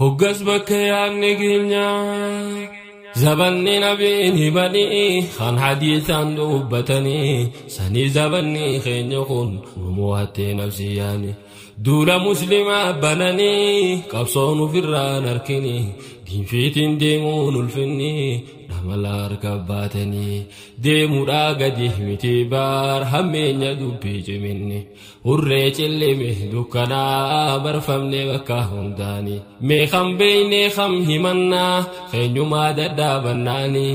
Hoggas bakka yaadni keenya zabanni nabiin himanii kan hadiisaan dubbatanii sanii zabanni keenya kun nu mo'attee nafsi yaani duula muslimaa bananii qabsoon ofirraan harkini diinfiitiin deemuun ulfinni dhamala harka baatanii deemuudhaa gadi miti baar hammeenya dubbii ciminni. Hurree cillimi dukkanaa barfamne bakka hundaani mee kan beeyne kan himannaa keenyumaa dadhaabannaani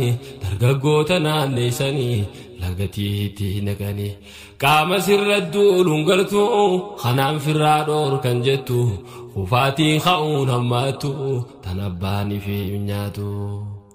dargaggoota naanneessanii lagatiitti naqani qaama sirra duuluun galtu kanaan firraa dhoor kan jettu kufaatiin ka'uun hammaatu tan abbaanii fi nyaatu.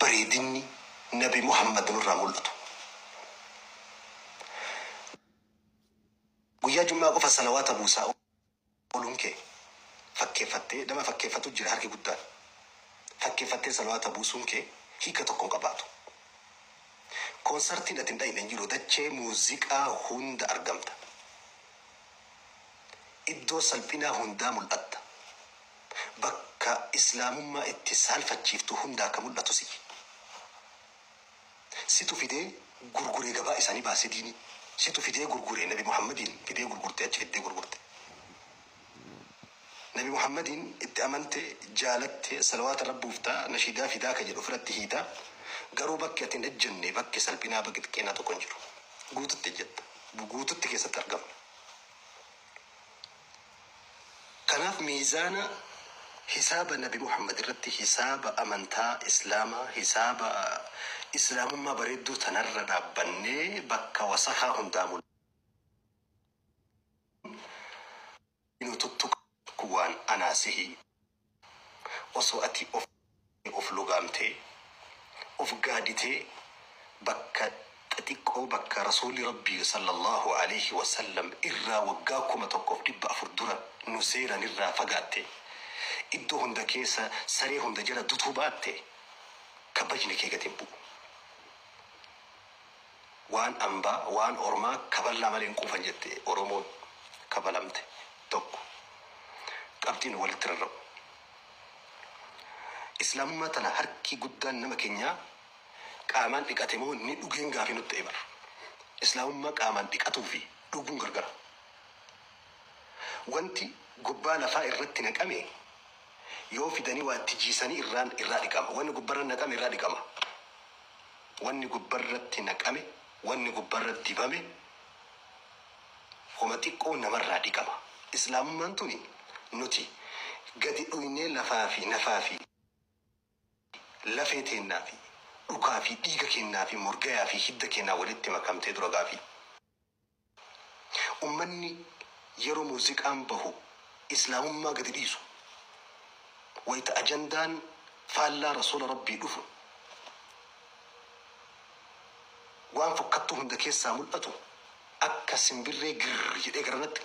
bareedinni nabi muhammad nurraa mul'atu. Guyyaa jum'aa qofa salawaata buusaa ooluun kee fakkeeffattee nama fakkeeffatu jira harki guddaan. Fakkeeffattee salawaata buusuun kee hiika tokko hin qabaatu. Koonsartiin ati hin dhayne hin jiru dachee muuziqaa hunda argamta. Iddoo salphinaa hundaa mul'atta. bakka islaamummaa itti saalfachiiftu hunda akka mul'atu si situ fidee gurgure gabaa isaanii baase diinii situ fidee gurgure nabi muhammadiin fidee gurgurte achi fiddee gurgurte nabi muhammadiin itti amante jaalatte salawaata rabbuuf taa nashiidaa fidaa ka jedhu ofiratti hiita garuu bakki ati hin ejjenne bakki salphinaa bakki xiqqeenaa tokko hin jiru guututti ejjetta guututti keessatti argamna Kanaaf miizaana hisaaba nabi Muhammad irratti hisaaba amantaa islaamaa, hisaaba islaamummaa bareedduu tanarra dhaabbannee bakka wasakaa hundaa mul'annu nu tuttuqaa kun waan anaa sihii. Osoo ati of dhiistee of lugaamtee, of gaaditee bakka xixiqqoo bakka Rasuulli Rabbii, Sallallaahu aleyhi wa sallam, irraa waggaa 1400 dura nu seeran irraa fagaattee, iddoo hunda keessa saree hunda jala dutuu baatte, kabajni kee gad hin bu'u. Waan ambaa, waan ormaa kaballaa malee hin quufan jette Oromoon kafalamte tokko. Qabxii nu walitti rarra'u. Islaamummaa tana harki guddaan nama kenyaa qaamaan dhiqate moo ni dhugeen gaafii nutti ta'e bar. Islaamummaa qaamaan dhiqatuu fi dhuguun gargara. Wanti gubbaa lafaa irratti naqame yoo fidanii waa itti jiisanii irraan irraa dhiqama. Wanni gubbarra naqame irraa dhiqama. Wanni gubbarratti naqame, wanni gubbarra dibame homa xiqqoo namarraa dhiqama. Islaamummaan tuni nuti gadi dhuynee lafaa fi nafaa fi lafee teennaa fi dhukaa fi dhiiga keennaa fi morgayaa fi hidda keenaa walitti makamtee dura gaafii. Ummanni yeroo muuziqaan bahu Islaamummaa gadi dhiisu. Wayita ajandaan faallaa Rasuula Rabbii dhufu, waan fokkattuu hunda keessaa mul'atu akka simbirree girr jedhee garanatti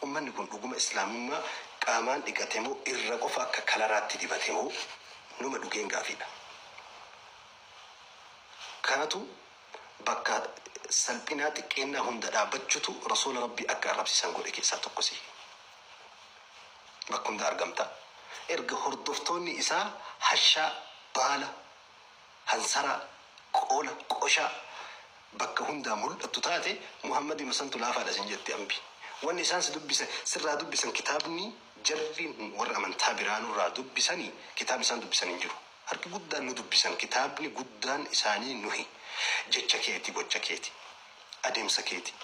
ummanni kun dhuguma Islaamummaa qaamaan dhiqate moo irra qofa akka kalaraatti dibate moo numa dhugeen gaafiidha. Kanatu bakka salphinaa xiqqeennaa hunda dhaabbachutu Rasuula Rabbii akka arrabsisan godhe keessaa tokko si. Bakka hunda argamta. Erga hordoftoonni isaa hashaa, baala, hansaraa, qoola, qoshaa bakka hundaa mul'attu taate Muhammadima santu laafaadha sin jetti ambi. Wanni isaan si dubbisan sirraa dubbisan kitaabni jarri warri amantaa biraa nurraa dubbisani kitaabni isaan dubbisan hin jiru. Harki guddaan nu dubbisan, kitaabni guddaan isaanii nuhi. Jecha keeti, gocha keeti, adeemsa keeti.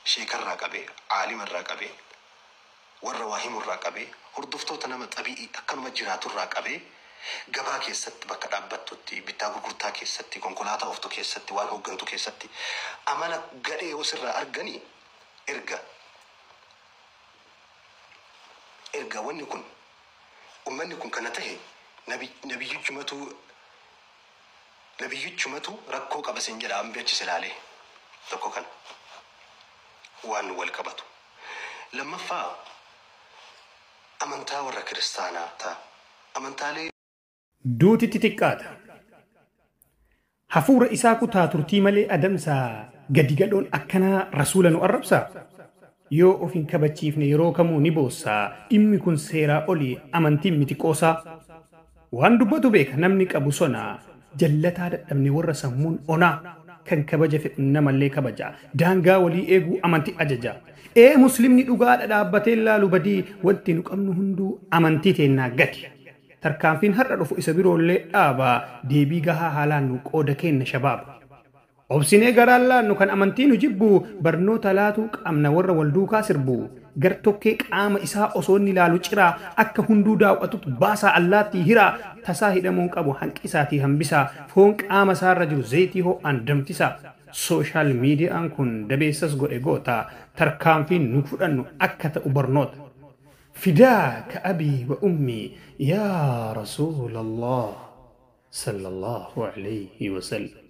Sheekarraa qabee, aalimarraa qabee, warra waa himurraa qabee, hordoftoota nama xabi'ii akkanuma jiraaturraa qabee, gabaa keessatti bakka dhaabbattutti, bittaa gurgurtaa keessatti, konkolaataa ooftu keessatti, waan hooggantu keessatti amala gadhee yoo sirraa argani erga erga wanni kun Ummanni kun kana tahe nabi nabiyyichumatu nabiyyichumatu rakkoo qaba sin jedha ambi achi si laalee tokko kana waan wal qabatu lammaffaa amantaa warra kiristaanaa ta amantaalee duutitti xiqqaata. Hafuura isaa kutaa turtii malee adamsa gadi gadhoon akkanaa Rasuula nu arrabsaa? Yoo of hin kabachiifne yeroo kamuu ni boossa, dhimmi kun seeraa oli amantiin miti qoosaa. Waan dubbatu beeka namni qabu sona, jallataa dadhabne warra sammuun onaa, kan kabaja fedhu namallee kabaja, daangaa walii eeguu amanti ajaja. Ee muslimni dhugaadha dhaabbatee hin laalu badii, wanti nu qabnu hunduu amantii teennaa gadi. Tarkaanfiin har'a dhufu isa biroollee dhaaba, deebii gahaa haa laannu qooda keenna shabaab. Obsinee garaan laannu kan amantii nu jibbu, barnoota laatuu qabna warra wal duukaa sirbu. Gar-tokkee qaama isaa osoo inni laalu ciraa, akka hunduu daaw'atut baasaa allaattii hiraa, tasaa hidhamuu hin qabu hanqisaatii hambisaa, foon qaama isaarra jiru zayitii hoo'aan danfisaa. Social media'an kun dabeessas godhe goota, tarkaanfiin nu fudhannu akka ta'u barnoota. Fidaaka abii wa ummii yaa rasuulallah sallallahu aleyhi wa sallam.